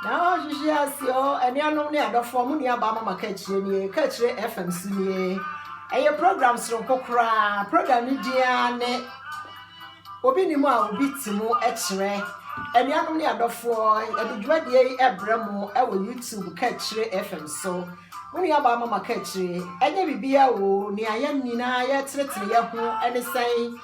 Na wɔn hwehwe ase o anuanom ne adɔfoɔ mo nuabaa mama kaakyire nie kaakyire fm so nie ɛyɛ program soronko koraa program ne din ara ne obi ne mu a obi te mu kyerɛ anuanom ne adɔfoɔ ɛde dwumadie yi ɛbrɛ mo ɛwɔ youtube kaakyire fm so mo nuabaa mama kaakyire ɛnyɛ biribiara o nea yɛn nyinaa yɛtenetene yɛn ho ɛne sɛn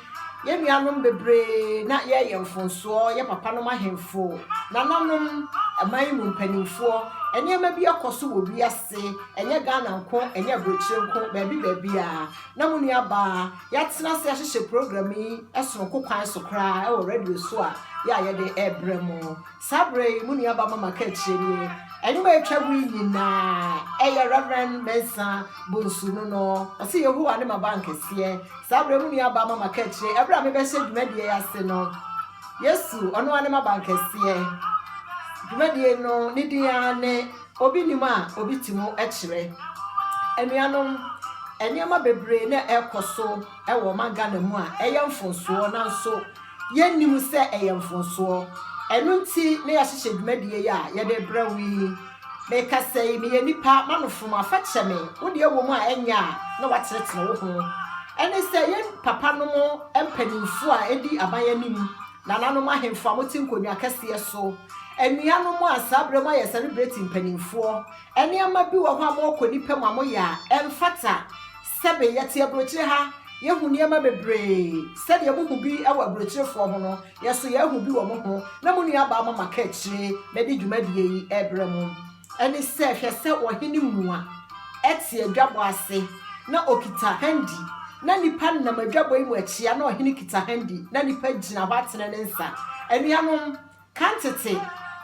Yɛn nuanom bebree na yɛreyɛ mfonsoɔ, yɛ papanom ahemfo, nananom, man mu mpanimfoɔ. Nneɛma bi kɔ so wɔ wiase, ɛnyɛ Ghana nko, ɛnyɛ aburokyire nko, baabi baabiara. Na mo nuabaa, yɛatena ase ahyehyɛ program yi sononko kwan so koraa wɔ radio so a yɛ a yɛde rebrɛ mo. Saa berɛ yi mo nua ba mama kaakyire nie. Ɛnwom a ɛtwa mu yi nyinaa, ɛyɛ Rev. Mensah Bonsu no no. Ɔse Yehowa ne m'aban kɛseɛ. Saa berɛ yi mo nua ba mama kaakyire. Ɛberɛ a mebɛhyɛ dwumadie yi ase no, Yesu, ɔno ara ne m'aban kɛseɛ. Dwumadie no ne din ara ne Obi Nim a Obi Te Mu Kyerɛ. Anuanom, nneɛma bebree na ɛrekɔ so wɔ ɔman Ghana mu a ɛyɛ mfomsoɔ nanso Yɛnnim sɛ ɛyɛ mfomsoɔ. Ɛno nti na yɛahyehyɛ dwumadie yi a yɛde rebrɛ wo yi. Mekasa yi, meyɛ nipa, m'anofom a, fa kyɛ me. Wo deɛ wɔ mu a ɛnyɛ a na woatenetene wo ho. Ɛne sɛ, yɛn papanom mpanimfoɔ a ɛdi aban anim, nananom ahemfo a mote nkonnwa akɛseɛ so, anuanom a saa berɛ moayɛ sɛlebreti mpanimfoɔ, nneɛma bi wɔ hɔ a morekɔ nnipa mu a moyɛ a ɛmfata. Sɛbe, yɛte aburokyire ha, yɛhu nneɛma bebree. Sɛdeɛ mohu bi wɔ aburokyirefoɔ ho no, yɛn nso yɛahu bi wɔ mo ho, na mo nuabaa ma maka akyire madi dwumadie yi rebrɛ mo. Ɛne sɛ, hwɛ sɛ ɔhene mua te adwabɔ ase, na ɔkita handi, na nnipa nam adwabɔ yi mu akyia, na ɔhene kita handi, na nnipa gyina hɔ atene ne nsa. Anuanom, Kan tete,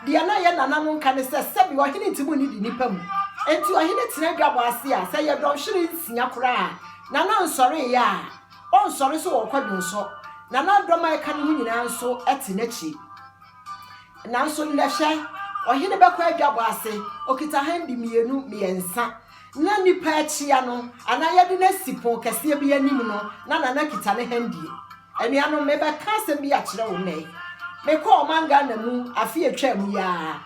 deɛ na ɛyɛ nana no nka ne sɛ, sɛbi ɔhene ntumi nnidi nnipa mu. Enti ɔhene tena dwabɔ ase a, sɛ ɛyɛ dɔnhwere nsia koraa a, nana nsɔreeɛ a, ɔnsɔre so wɔ kwadwom so. Nana dɔm a ɛka ne ho nyinaa nso te n'akyi. Nanso nnɛ hwɛ, ɔhene bɛkɔ adwabɔ ase, ɔkita handi mmienu, mmiɛnsa. Na nnipa akyia no, anaa yɛde no asi pono kɛseɛ bi anim no, na nana kita ne handie. Anuanom, mebɛka asɛm bi akyerɛ wo nnɛ. Mekɔɔ ɔman Ghana mu afe a etwaam yi ara.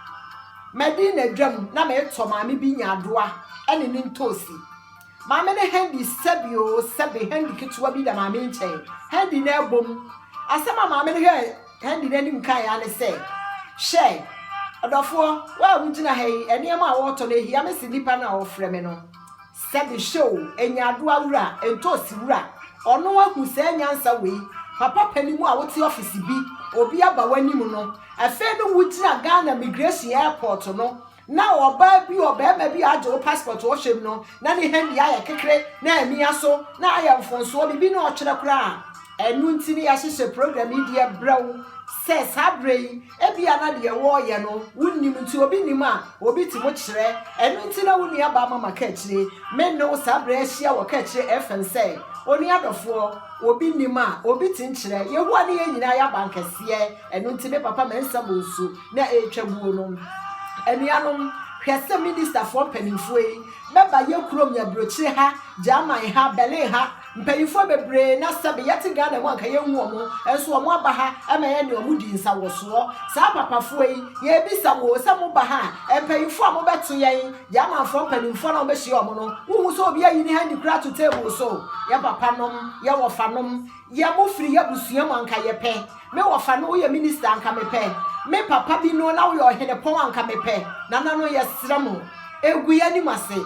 Madi nnaadwam na meretɔ maame bi nyaadoa ne ne ntoosi. Maame no handi sɛbe oo sɛbe, handi ketewa bi da maame nkyɛn. Handi no abom. Asɛm a maame no hwɛɛ handi no anim kae ara ne sɛ, Hwɛ, ɔdɔfoɔ, wo a wugyina ha yi, nneɛma a woretɔ no, ehia me sen nnipa no a wɔfrɛ me no. Sɛbi hyɛ o, Nyaadoa wura, Ntoosi wura, ɔno ahu saa nyansa wei, papa panin mu a wote ɔfese bi, obi aba w'anim no, afei no wogyina Ghana migration airport no na ɔbaa bi, ɔbarima bi a agye wo passport ɔhwɛ mu no na ne hɛn deɛ ayɛ kekere na amia so na ayɛ mfonsoɔ biribi na ɔtwerɛ koraa, ɛno nti no yɛahyehyɛ program yi deɛ brɛ wo sɛ saa berɛ yi. Ebia na deɛ wɔreyɛ no wonnim nti obi nim a obi ti mu kyerɛ. Ɛno nti na wo nua baa Mama Kaakyire. Me ne wo saa berɛ yi ahyia wɔ Kaakyire FM sɛ, Onua dɔfoɔ, obi nim a obi ti nkyerɛ. Yehowa ne yɛn nyinaa yɛ abankɛseɛ. Ɛno nti me papa Mensah Bonsu na ɛretwa buo no. Anuanom, hwɛ sɛ Ministafoɔ mpanimfoɔ yi bɛba yɛn kurom, yɛn aburokyire ha, German ha, Berlin ha, Mpanyinfoɔ bebree na sɛbe yɛte Ghana mu a nka yɛnhu wɔn, nso wɔn aba ha ma yɛne wɔn di nsawɔsoɔ. Saa papafoɔ yi, yɛrebisa mo o, sɛ moba ha a, mpanyinfoɔ a mobɛto yɛn, yɛn amanfoɔ mpanyinfoɔ no a mobɛhyia wɔn no, wohu sɛ obi ayi ne handi koraa ato table so? Yɛn papanom, yɛn wɔfanom, yɛn mofiri yɛn abusua mu a nka yɛpɛ. Me wɔfa no woyɛ minister a nka mepɛ me papa bi no na woyɛ ɔhenepɔn a nka mepɛ nananom yɛsrɛ mo egu yɛ anim ase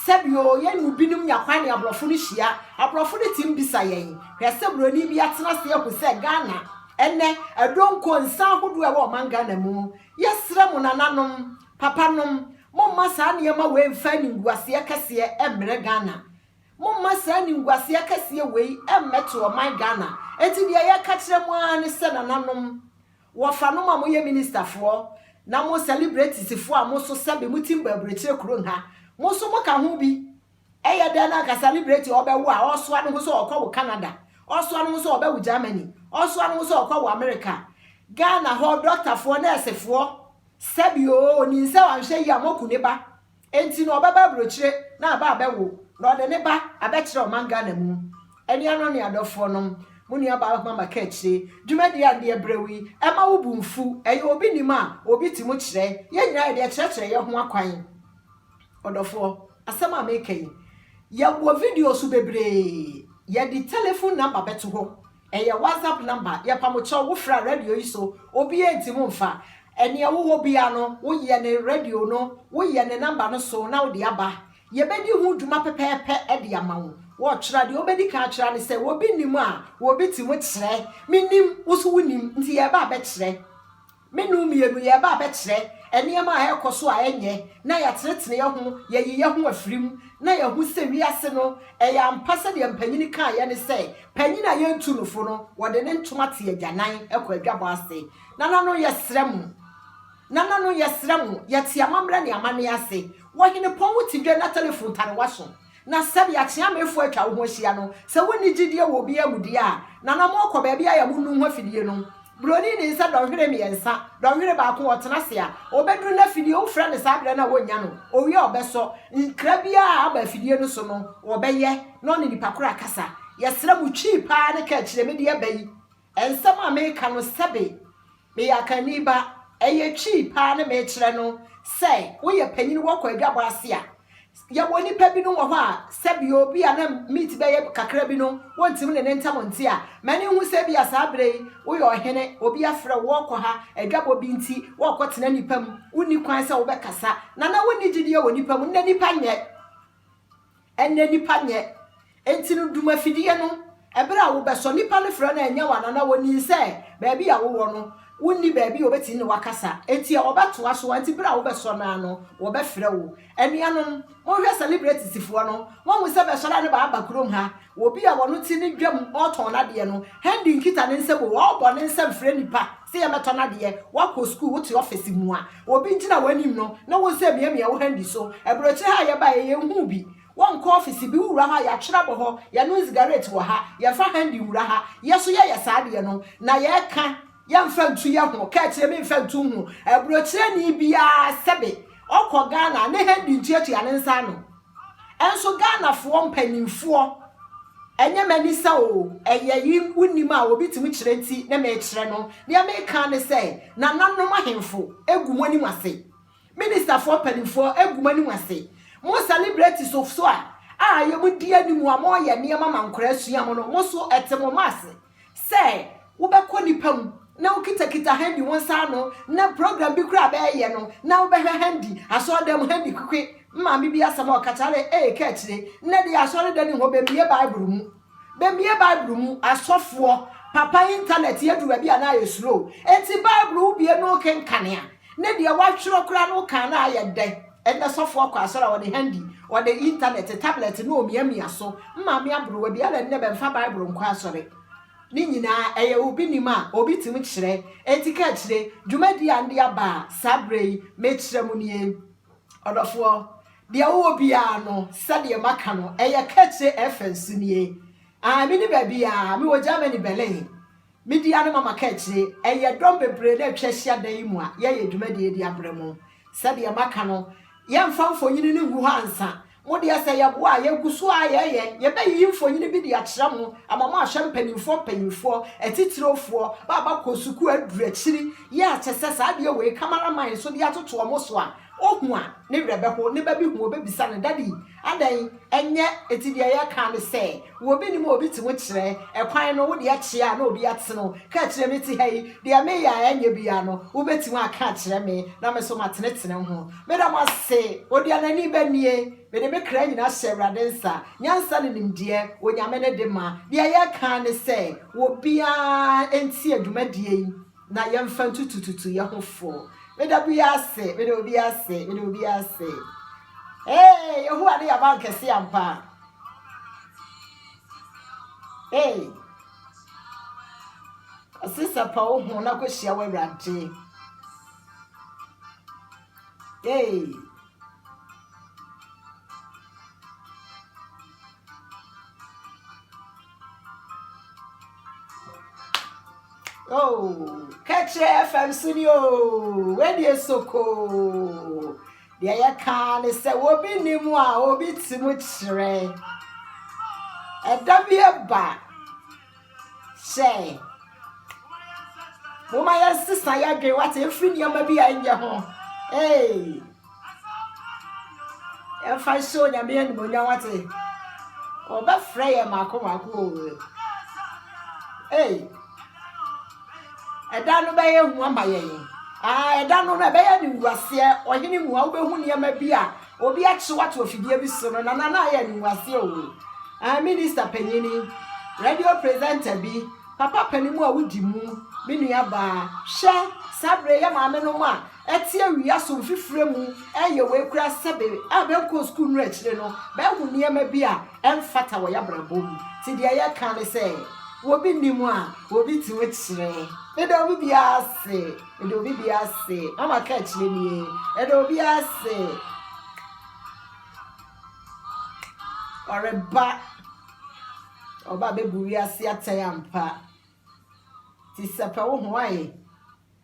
sɛbi oo yɛn mu binom nya kwan ne abrɔfo no hyia abrɔfo no tim bisa yɛn hwɛ sɛ broni bi atena ase ahu sɛ Ghana ɛnɛ ɛdonko nsa ahodoɔ ɛwɔ ɔman Ghana mu yɛsrɛ mo nananom papanom momma saa nneɛma wei mfa animguaseɛ kɛseɛ ɛmmerɛ Ghana Momma saa animguaseɛ akɛseɛ wei mmɛto ɔman Ghana. Enti deɛ yɛka kyerɛ mo ara ne sɛ nananom, wɔfanom a moyɛ ministerfoɔ na mo celebratiesfoɔ a mo nso sɛbe mo tim bɔ aburokyire kuro nha, mo nso moka ho bi. Ɛyɛ dɛn na anka celebrati a ɔbɛwo a ɔresoa ne ho sɛ ɔrekɔwo Canada, ɔresoa ne ho sɛ ɔrebɛwo Germany, ɔresoa ne ho sɛ ɔrekɔwo America. Ghana hɔ dɔktafoɔ, nɛɛsefoɔ, sɛbe oo, ɔnim sɛ wanhwɛ yie a moaku ne ba. Enti no ɔbɛba aburokyire na aba abɛwo na ɔde ne ba abɛkyerɛ ɔman Ghana mu. Anuanom ne adɔfoɔ nom, mo nua baa Ahuma Makakyire, dwumadie a ndeɛ brɛw yi, ɛma wo bo nfu, ɛyɛ obi nim a obi te mu kyerɛ, yɛn nyinaa yɛde ɛkyerɛkyerɛ yɛn ho akwan. Ɔdɔfoɔ, asɛm a meka yi, yɛwɔ videos bebree, yɛde telephone number bɛto hɔ, Ɛyɛ WhatsApp number yɛpa mo kyɛw wo fra radio yi so obiaa ntim nfa ɛneɛ wo wɔ biaa no wo yɛ ne radio no wo yɛ ne number no so na wo de aba yɛbɛdi ho dwuma pɛpɛɛpɛ de ama wo wɔ kyerɛ deɛ wobɛdi kan akyerɛ ne sɛ wɔ bi nim a wɔ bi tim kyerɛ me nim wo so wo nim nti yɛɛba abɛkyerɛ Me ne wo mmienu yɛreba abɛkyerɛ nneɛma a ɛrekɔ so a ɛnyɛ na yɛatenetene yɛn ho, yɛayi yɛn ho afiri mu, na yɛahu sɛ wiase no, ɛyɛ ampa sɛdeɛ mpanin kaeɛ no sɛ, Panin a yɛntu no fo no, wɔde ne ntoma te agyanan kɔ adwabɔ ase. Nananom, yɛsrɛ mo, Nananom, yɛsrɛ mo, yɛte amammerɛ ne amanneɛ ase wɔ Henepɔn wo tedwa na telefon tarewa so. Na sɛdeɛ akyeamefoɔ atwa wo ho ahyia no, sɛ wonni gyidie wɔ obiara mu deɛ a, na na morekɔ baabi ayɛ mo nnuho afidie no. Buroni nim sɛ dɔnhwere mmiɛnsa, dɔnhwere baako ɔtena ase a, ɔbɛduru n'afidie, wofrɛ no saa berɛ no a ɔnnya no, ɔwie a ɔbɛsɔ, nkra biara a aba afidie no so no, ɔbɛyɛ na ɔne nipa korɔ akasa. Yɛsrɛ mo, twi paa ne ka akyire, mede aba yi, Nsɛm a meka no sɛbe meyɛ akanni ba, ɛyɛ twi paa ne mekyerɛ no sɛ woyɛ panyin wɔ kwadwabɔ ase a, yɛwɔ nnipa binom wɔ hɔ a sɛbe obi a na meat bɛyɛ kakra bi no wontumi ne no ntam nte a, m'ani hu sɛ ebia saa bere yi woyɛ ɔhene, obi afrɛ wo, worekɔ ha, adwabɔ bi nti worekɔtena nnipa mu, wunni kwan sɛ wobɛkasa, na na wunni gyidie wɔ nnipa mu. Nnɛ nnipa nyɛ. Ɛnnɛ nipa nyɛ. Enti no dum afidie no. Ɛberɛ a wo bɛsɔ nipa no frɛ no a ɛnyɛ wo anana wɔ nim sɛ baabi a wo wɔ no wo nni baabi a ɔbɛtumi ne wo akasa enti a ɔbɛtoa so enti berɛ a wo bɛsɔ no ara no wɔ bɛfrɛ wo. Anuanom mo hwɛ celebrities foɔ no mo ahu sɛ bɛsɔre a ne baa ba kurom ha obi a ɔno te ne dwam ɔɔtɔn nadeɛ no hɛn de nkita ne nsam o ɔɔbɔ ne nsam frɛ nipa Sɛ yɛbɛtɔ no adeɛ, woakɔ sukuu, wote ɔfese mu a, obi ngyina w'anim no ne wo nsɛ miamia wo handi so. Aburokyire ha a yɛbaeɛ yɛnhuu bi. Wɔnkɔ ɔfese bi, wowura hɔ a yɛatwere abɔ hɔ, yɛnom nzigarete wɔ ha, yɛmfa handi nwura ha. Yɛ so yɛyɛ saa adeɛ no, na yɛka yɛmfa ntu yɛ ho, ka akyire me mfa ntu nhunu aburokyireni biara sɛbe ɔkɔ Ghana a ne handi ntuatua ne nsa ano. Nso Ghana foɔ mpaninfoɔ ɛnyɛ mani sɛ oo ɛyɛ yi wo nim a obi tumi kyerɛ nti ne me kyerɛ no deɛ me kaa ne sɛ nana nom ahenfo egu mo anim ase minister foɔ mpaninfoɔ egu mo anim ase mo celebrities of so a a yɛ mo di anim a mo yɛ nneɛma ma nkwadaa sua mo no mo so ɛte mo mma ase sɛ wobɛkɔ nnipa mu na wokitakita handi wo nsa ano na program bi koraa bɛɛyɛ no na wobɛhwɛ handi asɔredan mu handi kwekwe maame bi asɛm a ɔka kyerɛ ee ka akyire nnɛ deɛ asɔredan ni hɔ bɛmmie bible mu bɛmmie bible mu asɔfoɔ papa internet yɛduru baabi a na ayɛ slow enti bible wobie no kenkanea Ne deɛ watwerɛ koraa no wokaa no a ayɛ dɛ, ɛnnɛ sɔfoɔ kɔ asɔre a ɔde handy, ɔde internet, tablet na ɔmiamia so, mmaame aborowa bi, ɛna nnɛ bɛmfa bible nkɔ asɔre. Ne nyinaa ɛyɛ obi nim a obi tumi kyerɛ, enti ka akyire, dwumadie a nde aba a saa berɛ yi mekyerɛ mo nie. Ɔdɔfoɔ, deɛ wowɔ biara no sɛdeɛ maka no ɛyɛ ka akyire ɛfa nsu nie, aah menni baabiara, mewɔ Germany, Berlin. Media ne Mama Kaakyire, Ɛyɛ dɔm bebree na atwa ahyia dan yi mu a yɛyɛ dwumadie de abrɛ mo. Sɛdeɛ maka no, yɛmfa mfonini no ngu hɔ ansa. Mo deɛ sɛ yɛboa a, yɛgu so ara yɛyɛ. Yɛbɛyiyi mfonini bi de akyerɛ mo ama mo ahwɛ mpanimfoɔ mpanimfoɔ, atitirofoɔ, ba a bɛakɔ sukuu aduru akyiri yi a kyɛ sɛ saa adeɛ wei camera man nso de atotoɔ mo so a, ɔhu a, ne werɛ bɛho, ne ba bi hu a, ɔbɛbisa no, Daddy, Adɛn, ɛnyɛ ɛti deɛ yɛka ne sɛ wɔ obi nim a obi ti wo kyerɛ ɛkwan no, wo deɛ kyea a na obi ate no ka kyerɛ me te ha yi, deɛ me yɛ a ɛnyɛ biara no wo bɛ ti wo aka akyerɛ me na me so ma tene tene ho. Me da mo ase. Odianani bɛ nie, me de me kra nyina hyɛ Awurade nsa, nyansa ne nimdeɛ Onyame ne de ma, deɛ yɛka ne sɛ wɔ biara ntie dwumadie yi, na yɛmfa ntutututu yɛn ho fo. Meda obi ase, meda obi ase, meda obi ase. Ee, Yehowa ne yɛn abankɛse ampa. Ee, ɔse sɛ pa wo ho na kɔhyia w'Awurade. Ee. Oh, kɛkyerɛ fam so ni o, wɛdeɛ soko. Deɛ yɛ kaa ne sɛ obi ni mu a obi ti mu kyerɛ. Ɛda bi ɛba sɛ mo ma yɛn sesa yɛ adwene wate efiri nneɛma bi a ɛnyɛ ho. Hey. Yɛmfa nhyɛ Onyame animuonyam wate. Ɔbɛfrɛ yɛn mako mako o. Ei, ɛda no bɛyɛ hu ama yɛn. Ah, ɛda no no ɛbɛyɛ ne nwuaseɛ ɔhene mu a wobɛhu nneɛma bi a obi akye wato afidie bi so no nana na ayɛ ne nwuaseɛ o. Ah, minister panyini, radio presenter bi, papa panin mu a wodi mu, me nua baa, hwɛ saa bere yɛ maame no mu a Ɛtse awia so mfifire mu yɛ wei koraa sɛbe a bɛnkɔɔ sukuu nnuru akyire no, bɛahu nneɛma bi a ɛmfata wɔ y'abrabɔ mu. Nti deɛ yɛka ne sɛ, wɔbi nni mu a, wɔbi te ho kyerɛ. Meda obi biara ase. Meda obi biara ase. Mama ka akyire nie. Meda obi biara ase. Ɔreba. Ɔba bɛbu wiase atɛn ampa. Nti sɛpɛ wo ho ayɛ.